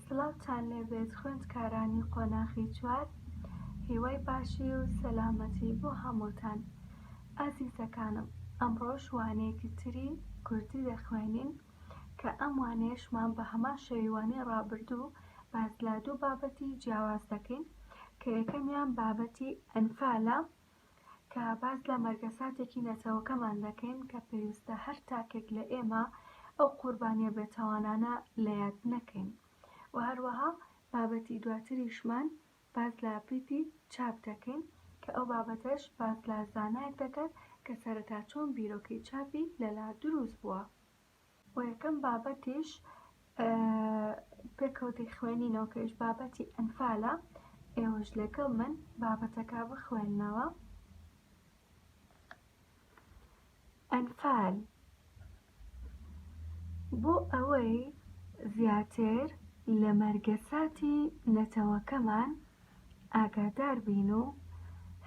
سڵاوتان لێبێت خوێندکارانی قۆناخی چوار هیوای باشی و سەلامەتی بۆ هەمووتان ئازیزەکانم ئەمڕۆش وانەیەکی تری کوردی دەخوێنین کە ئەم وانەیەشمان بە هەمان شێوەی وانەی ڕابردوو باس لە دوو بابەتی جیاواز دەکەین کە یەکەمیان بابەتی ئەنفالە کە باس لە مەرگەساتێکی نەتەوەکەمان دەکەین کە پێویستە هەر تاکێک لە ئێمە ئەو قوربانیە بێتاوانانە لە یاد نەکەین و هەروەها بابەتی دواتریشمان باس لە پیتی چاپ دەکەین کە ئەو بابەتەش باس لە زانایەک دەکات کە سەرەتا چۆن بیرۆکەی چاپی لەلا دروست بووە و یەکەم بابەتیش پێکەوە دەیخوێنینەوە کە ئیش بابەتی ئەنفالە ئێوەش لەگەڵ من بابەتەکە بخوێننەوە ئەنفال بۆ ئەوەی زیاتر لە مەرگەساتی نەتەوەکەمان ئاگادار بین و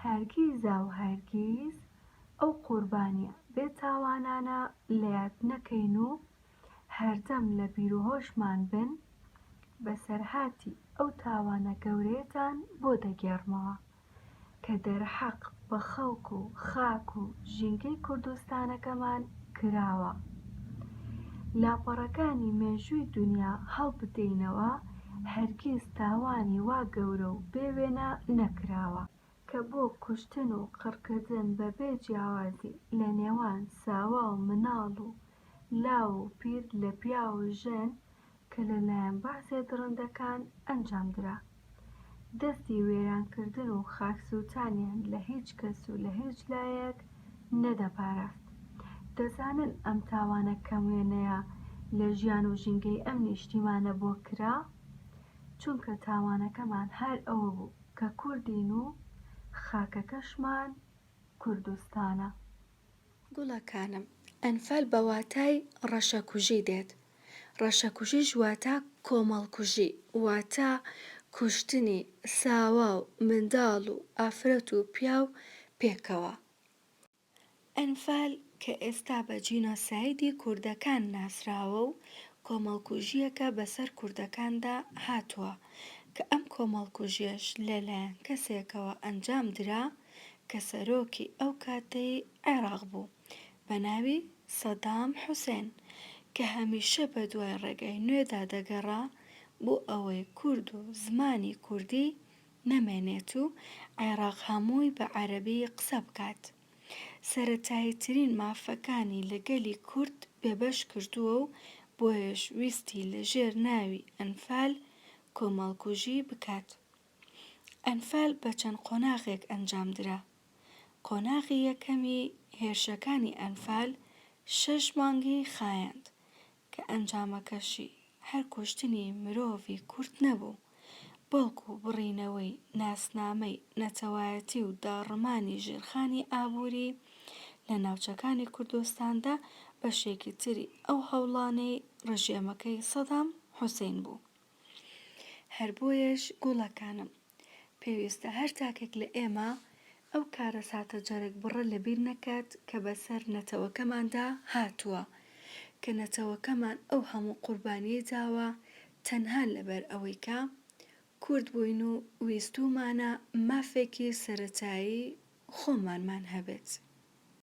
هەرگیزا و هەرگیز ئەو قوربانیە بێ تاوانانە لە یاد نەکەین و هەردەم لە بیروهۆشمان بن، بەسەرهاتی ئەو تاوانە گەورەیەتان بۆ دەگێڕمەوە، کە دەرحەق بە خەڵک و خاک و ژینگەی کوردستانەکەمان کراوە. لاپەڕەکانی مێژووی دونیا هەڵبدەینەوە، هەرگیز تاوانی وا گەورە و بێ وێنە نەکراوە، کە بۆ کوشتن و قڕکردن بەبێ جیاوازی لە نێوان ساوا و مناڵ و لاو و پیر لە پیاو و ژن کە لە لایەن بەعسێ دڕندەکان ئەنجام درا دەستی وێران کردن و خاک سوتانیان لە هیچ کەس و لە هیچ لایەک نەدەپاراست دەزانن ئەم تاوانە کەم وێنەیە لە ژیان و ژینگەی ئەم نیشتیمانە بۆ کرا چونکە تاوانەکەمان هەر ئەوە بوو کە کوردین و خاکەکەشمان کوردستانە. گوڵەکانم، ئەنفال بە واتای ڕەشەکوژی دێت، ڕەشەکوژیش واتە کۆمەڵکوژی، واتە کوشتنی ساوا و منداڵ و ئافرەت و پیاو پێکەوە. ئەنفال کە ئێستا بە جینۆسایدی کوردەکان ناسراوە و کۆمەڵکوژییەکە بەسەر کوردەکاندا هاتووە، کە ئەم کۆمەڵکوژییەش لەلایەن کەسێکەوە ئەنجام درا، کە سەرۆکی ئەو کاتەی عێراق بوو بە ناوی سەدام حوسێن کە هەمیشە بە دوای ڕێگای نوێدا دەگەڕا بۆ ئەوەی کورد و زمانی کوردی نەمێنێت و عێراق هەمووی بە عەرەبی قسە بکات سەرەتاییترین مافەکانی لە گەلی کورد بێبەش کردووە و بۆیەش ویستی لە ژێر ناوی ئەنفال کۆمەڵکوژی بکات. ئەنفال بە چەند قۆناغێک ئەنجامدرا، قۆناغی یەکەمی هێرشەکانی ئەنفال شەش مانگی خایاند کە ئەنجامەکەشی هەر کوشتنی مرۆڤی کورد نەبوو، بەڵکو بڕینەوەی ناسنامەی نەتەوایەتی و داڕمانی ژێرخانی ئابووری لە ناوچەکانی کوردستاندا بەشێکی تری ئەو هەوڵانەی ڕژێمەکەی سەدام حوسەین بوو. هەر بۆیەش گوڵەکانم، پێویستە هەر تاکێک لە ئێمە ئەو کارەساتە جەرگبڕە لەبیر نەکات کە بەسەر نەتەوەکەماندا هاتووە، کە نەتەوەکەمان ئەو هەموو قوربانیەی داوە تەنها لەبەر ئەوەی کە کورد بووین و ویستوومانە مافێکی سەرەتایی خۆمانمان هەبێت.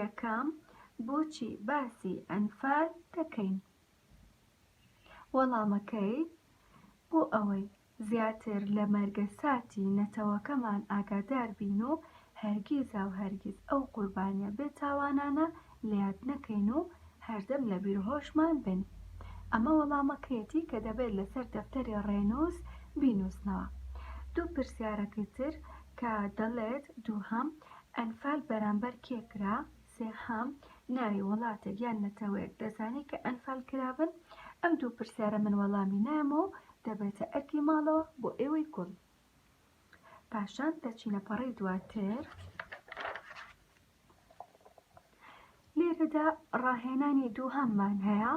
یەکەم بۆچی باسی ئەنفال دەکەین؟ وەڵامەکەی، بۆ ئەوەی زیاتر لە مەرگەساتی نەتەوەکەمان ئاگادار بین و هەرگیزاو هەرگیز ئەو قوربانیە بێ تاوانانە لەیاد نەکەین و هەردەم لە بیروهۆشمان بن. ئەمە وەڵامەکەیەتی کە دەبێت لەسەر دەفتەری ڕێنووس بینووسنەوە. دوو پرسیارەکەی تر کە دەڵێت، دووهەم ئەنفال بەرامبەر کێ کرا؟ سێهەم، ناوی وڵاتێک یان نەتەوەیەک دەزانی کە ئەنفال کرابن؟ ئەم دوو پرسیارە من وەڵامی نایەمەوە و دەبێتە ئەرکی ماڵەوە بۆ ئێوەی گوڵ. پاشان دەچینە پەڕەی دواتر. لێرەدا ڕاهێنانی دووهەممان هەیە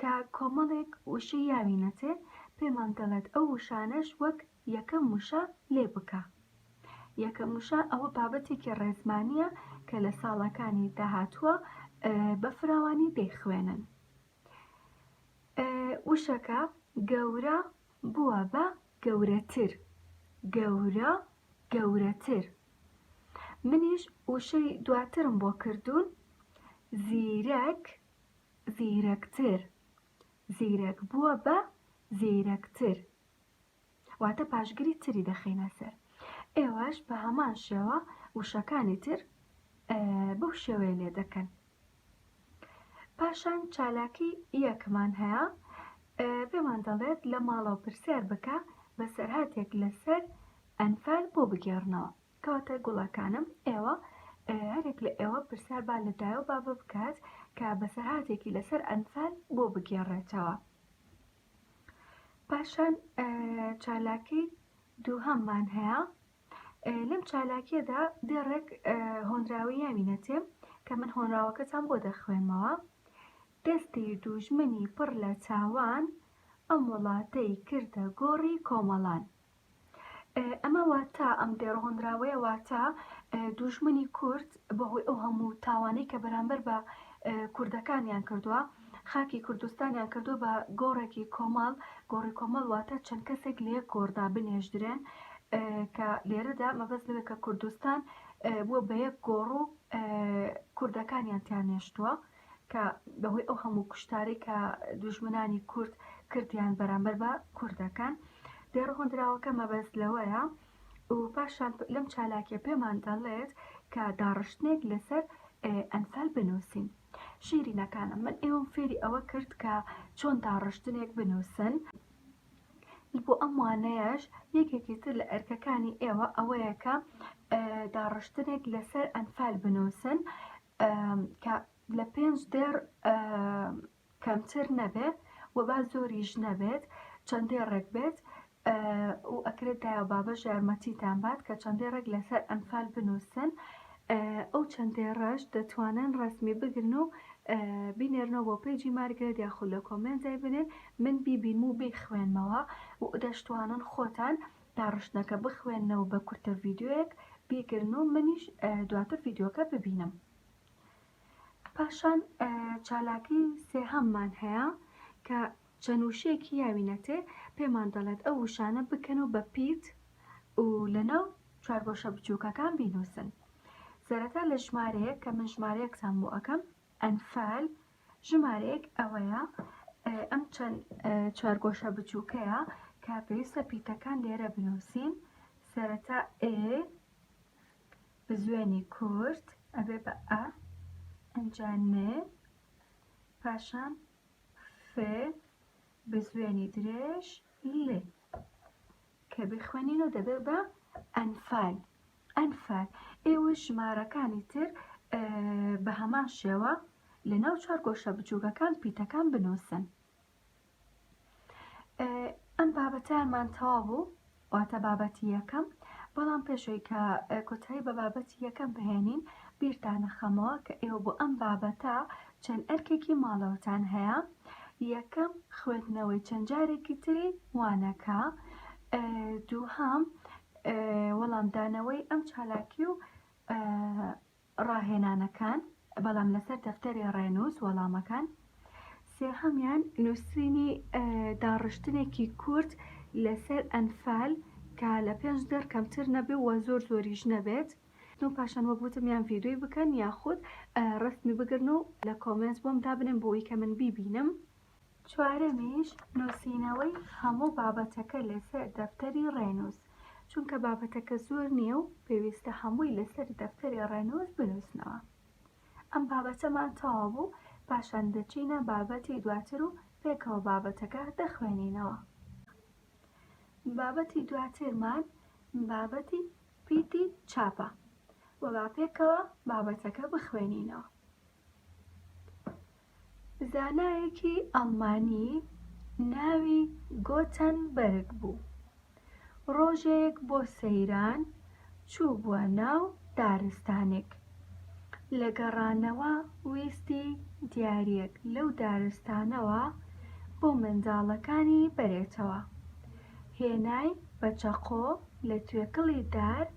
کە کۆمەڵێک وشەی یاوی نەتێ پێمان دەڵێت ئەو وشانەش وەک یەکەم وشە لێ بکە. یەکەم وشە ئەوە بابەتێکی ڕێزمانییە کە لە ساڵەکانی داهاتووە بە فراوانی دەیخوێنن. وشەکە گەورە بووە بە گەورەتر گەورە گەورەتر منیش وشەی دواترم بۆ کردوون زیرەک زیرەکتر زیرەک بووە بە زیرەکتر واتە پاشگری تری دەخینە سەر ئێوەش بە هەمان شێوە وشەکانی تر بەو شێوەیە لێ دەکەن پاشان چالاکی یەکمان هەیە پێمان دەڵێت لە ماڵەوە پرسیار بکە بە سەرهاتێک لەسەر ئەنفال بۆ بگێڕنەوە کەواتە گوڵەکانم ئێوە هەرێک لە ئێوە پرسیار با لە دایە و بابە بکات کە بەسەرهاتێکی لەسەر ئەنفال بۆ بگێڕێتەوە پاشان چالاکی دووهەممان هەیە لەم چالاکیەدا دێڕێک هۆنراوی یاوی نەتێ کە من هۆنراوەکەتان بۆ دەخوێنمەوە دەستی دوژمنی پڕ لە چاوان ئەم وڵاتەی کردە گۆڕی کۆمەڵان ئەمە واتە ئەم دەڕهۆنراوەیە واتە دوژمنی کورد بەهۆی ئەو هەموو تاوانەی کە بەرامبەر بە کوردەکانیان کردووە خاکی کوردستانیان کردو بە گۆڕێکی کۆمەڵ گۆڕی کۆمەڵ واتە چەند کەسێک لە یەک گۆڕدا بنێژدرێن کە لێرەدا مەبەست لەوێ کە کوردستان بووە بە یەک گۆڕ و کوردەکانیان تیانێشتووە کە بەهۆی ئەو هەموو کوشتاری کە دوژمنانی کورد کردیان بەرامبەر بە کوردەکان دێڕ هۆندراوەکە مەبەست لەوەیە و پاشان لەم چالاکە پێمان دەڵێت کە داڕشتنێک لەسەر ئەنفال بنووسین شیرینەکانە من ئێوەم فێری ئەوە کرد کە چۆن داڕشتنێک بنووسن بۆ ئەم وانەیەش یەکێکی تر لە ئەرکەکانی ئێوە ئەوەیەکە داڕشتنێک لەسەر ئەنفال بنووسن کە لە پێنج دێڕ کەمتر نەبێت و با زۆریش نەبێت چەند دێڕێک بێت و ئەکرێت دایە بابەش یارمەتیتان بات کە چەند دێڕێک لەسەر ئەنفال بنووسن ئەو چەند دێڕەش دەتوانن ڕسمی بگرن و بینێرنەوە بۆ پێجی مارگرێت یاخود لە کۆمێنت دای بنێن من بیبینم و بیخوێنمەوە و دەشتوانن خۆتان داڕشتنەکە بخوێننە و بە کورتە ڤیدیۆیەک بیگرن و منیش دواتر ڤیدیۆکە ببینم پاشان چالاکی سێهەممان هەیە کە چەند وشەیەکی یاوینەتێ پێمان دەڵێت ئەو وشانە بکەن و بە پیت و لەناو چوارگۆشە بچووکەکان بینوسن سەرەتا لە ژمارەیە کە من ژمارەیەکتان بۆ ئەەکەم ئەنفال، ژمارەیەک ئەوەیە، ئەم چەند چوارگۆشە بچووکەیە کە پێویستە پیتەکان لێرە بنووسین، سەرەتا ئێ بزوێنی کورت ئەبێ بە ئە، ئەنجا نێ، پاشان فێ بزوێنی درێژ لێ کە بخوێنین و دەبێ بە ئەنفال ئەنفال، ئێوەش ژمارەکانی تر بە هەمان شێوە لەناو چوار گۆشە بچووکەکان پیتەکان بنووسن. ئەم بابەتەمان تەوا بوو واتە بابەتی یەکەم بەڵام پێشەوەی کە کۆتایی بە بابەتی یەکەم بهێنین بیرتانە خەمەوە کە ئێوە بۆ ئەم بابەتە چەند ئەرکێکی ماڵەوەتان هەیە یەکەم خوێندنەوەی چەند جارێکی تری وانەکە دووهام وەڵامدانەوەی ئەم چالاکی و ڕاهێنانەکان، بەڵام لەسەر دەفتەری ڕێنووس وەڵامەکان. سێهەمیان نووسینی داڕشتنێکی کورت لەسەر ئەنفال کە لە پێنج دەر کەمتر نەبێ و زۆر زۆریش نەبێت. و پاشان وەک وتم یان ڤیدیۆی بکەن یاخود ڕەسمی بگرن و لە کۆمێنت بۆم دابنێن بۆوەی کە من بیبینم. چوارەمیش نووسینەوەی هەموو بابەتەکە لەسەر دەفتەری ڕێنووس، چونکە بابەتەکە زۆر نییە و پێویستە هەمووی لەسەر دەفتەری ڕێنووس بنووسنەوە. ئەم بابەتەمان تەواو بوو، پاشان دەچینە بابەتی دواتر و پێکەوە بابەتەکە دەخوێنینەوە. بابەتی دواترمان بابەتی پیتی چاپە و با پێکەوە بابەتەکە بخوێنینەوە. زانایەکی ئەڵمانی ناوی گۆتەنبەرگ بوو ڕۆژێک بۆ سەیران چووبووە ناو دارستانێک لە گەڕانەوە ویستی دیاریەک لەو دارستانەوە بۆ منداڵەکانی بەرێتەوە هێنای بە چەقۆ لە توێکڵی دار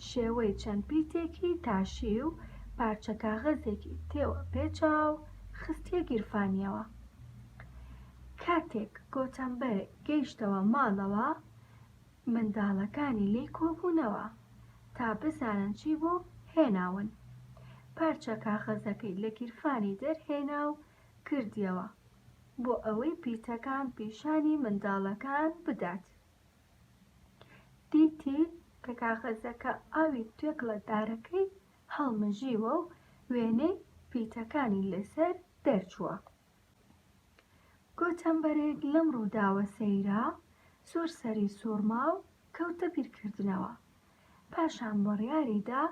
شێوەی چەند پیتێکی تاشی و پارچە کاغەزێکی تێوە پێچا و خستیە گیرفانیەوە. کاتێک گۆتەمبەر گەیشتەوە ماڵەوە منداڵەکانی لێی کۆبوونەوە تا بزانن چی بۆ هێناون. پارچە کاغەزەکەی لە گیرفانی دەرهێنا و کردیەوە. بۆ ئەوەی پیتەکان پیشانی منداڵەکان بدات. دیتی کە کاغەزەکە ئاوی توێکڵە دارەکەی هەڵمژیوە و وێنەی پیتەکانی لەسەر دەرچووە. گۆتەنبەرێک لەم ڕووداوە سەیرا، زۆر سەری سووڕما و کەوتە بیرکردنەوە. پاشان بڕیاریدا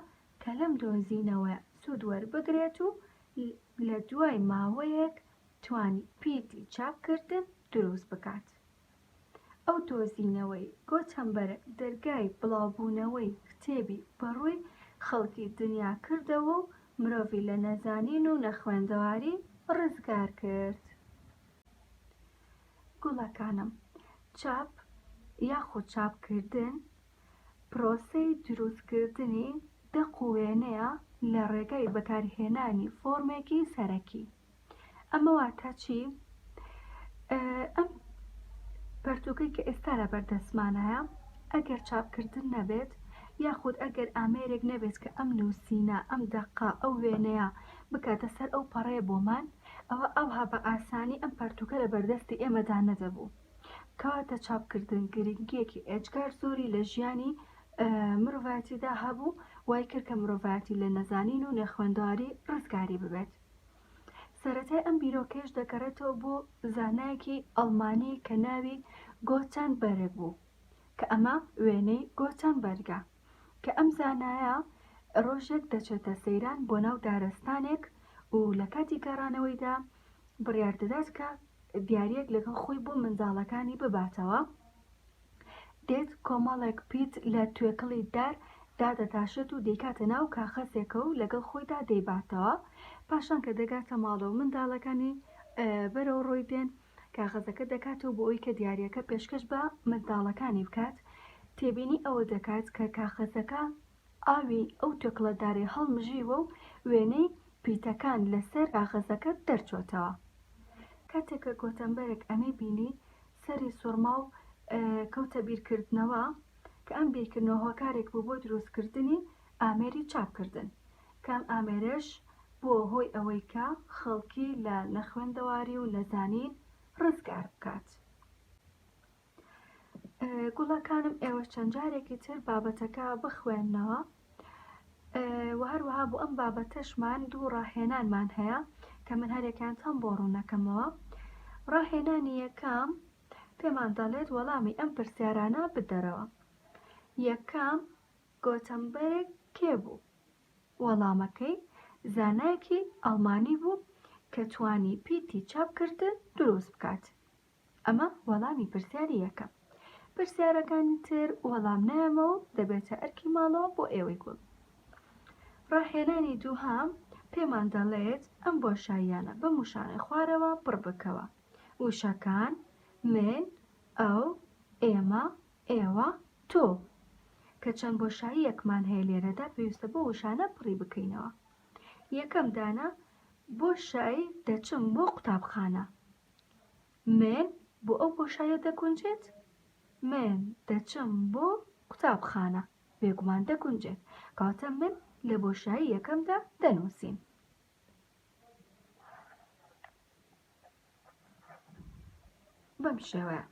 کە لەم دۆزینەوەیە سوود وەربگرێت و لە دوای ماوەیەک توانی پیتی چاپکردن دروست بکات. ئەو دۆزینەوەی گۆتەنبەرگ دەرگای بڵاوبوونەوەی کتێبی بەڕووی خەڵکی دنیا کردەوە و مرۆڤی لە نەزانین و نەخوێندەواری ڕزگار کرد. گوڵەکانم، چاپ یاخود چاپکردن پرۆسەی دروستکردنی دەق و وێنەیە لە ڕێگای بەکارهێنانی فۆرمێکی سەرەکی ئەمە واتە چی ئەم پەرتوکەی کە ئێستا لە بەردەستمانایە ئەگەر چاپکردن نەبێت یاخود ئەگەر ئامێرێک نەبێت کە ئەم نووسینە ئەم دەقا ئەو وێنەیە بکاتە سەر ئەو پەڕەیە بۆمان ئەوە ئەوها بە ئاسانی ئەم پەرتوکە لە بەردەستی ئێمەدا نەدەبوو کەواتە چاپکردن گرنگیەکی ئێجگار زۆری لە ژیانی مرۆڤایەتیدا هەبوو وای کرد کە مرۆڤایەتی لە نەزانین و نەخوێندەواری ڕزگاری ببێت سەتای ئەم بیرۆکەش دەگەڕێتەوە بۆ زانایەکی ئەڵمانی کە ناوی گۆچان بەرگ بوو کە ئەمە وێنەی گۆچان بەرگە کە ئەم زانایە ڕۆژێک دەچێتە سەیران بۆ ناو دارستانێک و لە کاتی گەڕانەوەیدا بڕیار دەدات کە دیارییەک لەگەڵ خۆی بۆ منداڵەکانی بباتەوە دێت کۆمەڵێک پیت لە توێکڵی دار دادەتاشێت و دەیکاتە ناو کاخەزێکە و لەگەڵ خۆیدا دەیباتەوە پاشان کە دەگاتە ماڵە و منداڵەکانی بەرەو ڕۆی دێن کاغەزەکە دەکاتەوە بۆ ئەوی کە دیارەکە پێشکەش بە منداڵەکانی بکات تێبینی ئەوە دەکات کە کاخەزەکە ئاوی ئەو توێکڵەدارەی هەڵمژیوە و وێنەی پیتەکان لە سەر کاغەزەکە دەرچۆتەوە. کاتێک کە گۆتەنبەرگ ئەمەی بینی، سەری سوڕما و کەوتە بیرکردنەوە، کە ئەم بیرکردنەوە هۆکارێک بوو بۆ دروستکردنی ئامێری چاپکردن، کە ئەم ئامێرەش بووە هۆی ئەوەی کە خەڵکی لە نەخوێندەواری و نەزانین ڕزگار بکات. گوڵەکانم ئێوەش چەند جارێکی تر بابەتەکە بخوێنەوە و هەروەها بۆ ئەم بابەتەشمان دوو ڕاهێنانمان هەیە کە من هەرێکیان تام بۆ ڕوونەکەمەوە ڕاهێنانی یەکەم پێمان دەڵێت وەڵامی ئەم پرسیارانە بدەرەوە یەکەم گۆتەمبەرێک کێ بوو وەڵامەکەی زانایەکی ئەڵمانی بوو کە توانی پیتی چاپکردن دروست بکات ئەمە وەڵامی پرسیاری یەکەم. پرسیارەکانی تر وەڵام نایەمەوە و دەبێتە ئەرکی ماڵەوە بۆ ئێوەی گوڵ. ڕاهێنانی دووهەم پێمان دەڵێت ئەم بۆشاییانە بەم وشانەی خوارەوە پڕ بکەوە، وشەکان، من، ئەو، ئێمە، ئێوە، تۆ. کە چەند بۆشاییەکمان هەیە لێرەدا پێویستە بەو وشانە پڕی بکەینەوە. یەکەم دانە، بۆشای، دەچم بۆ قوتابخانە. من بۆ ئەو بۆشایە دەگونجێت؟ من دەچم بۆ قوتابخانە بێگومان دەگونجێت کاتە من لە بۆشایی یەکەمدا دەنووسین بەم شێوەیە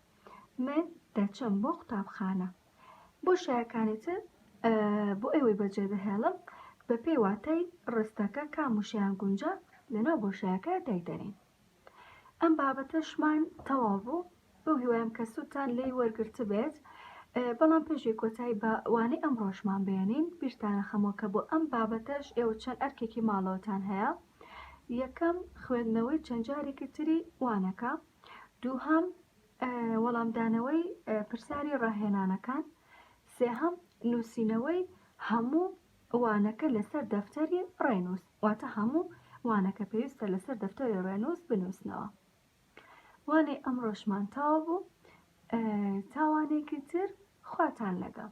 من دەچم بۆ قوتابخانە بۆ شایەکانێتر بۆ ئێوەی بەجێ دەهێڵم بە پێی واتای ڕستەکە کاموشیان گونجا لەناو بۆشایەکە دایدەنین ئەم بابەتەشمان تەواو بوو بەو هیوایم کە سوودتان لێی وەرگرتبێت بەڵام پێشی کۆتایی بە وانەی ئەم ڕۆژمان بێنین بیرتانە خەمۆ کە بۆ ئەم بابەتەش ئێوە چەند ئەرکێکی ماڵەوەتان هەیە یەکەم خوێندنەوەی چەند جارێکی تری وانەکە دووهەم وەڵامدانەوەی پرسیاری ڕاهێنانەکان سێهەم نووسینەوەی هەموو وانەکە لەسەر دەفتەری ڕێنووس واتە هەموو وانەکە پێویستە لەسەر دەفتەری ڕێنووس بنووسنەوە وانەی ئەمڕۆشمان تاوا بوو تاوانێکی تر خواتان لەگەڵ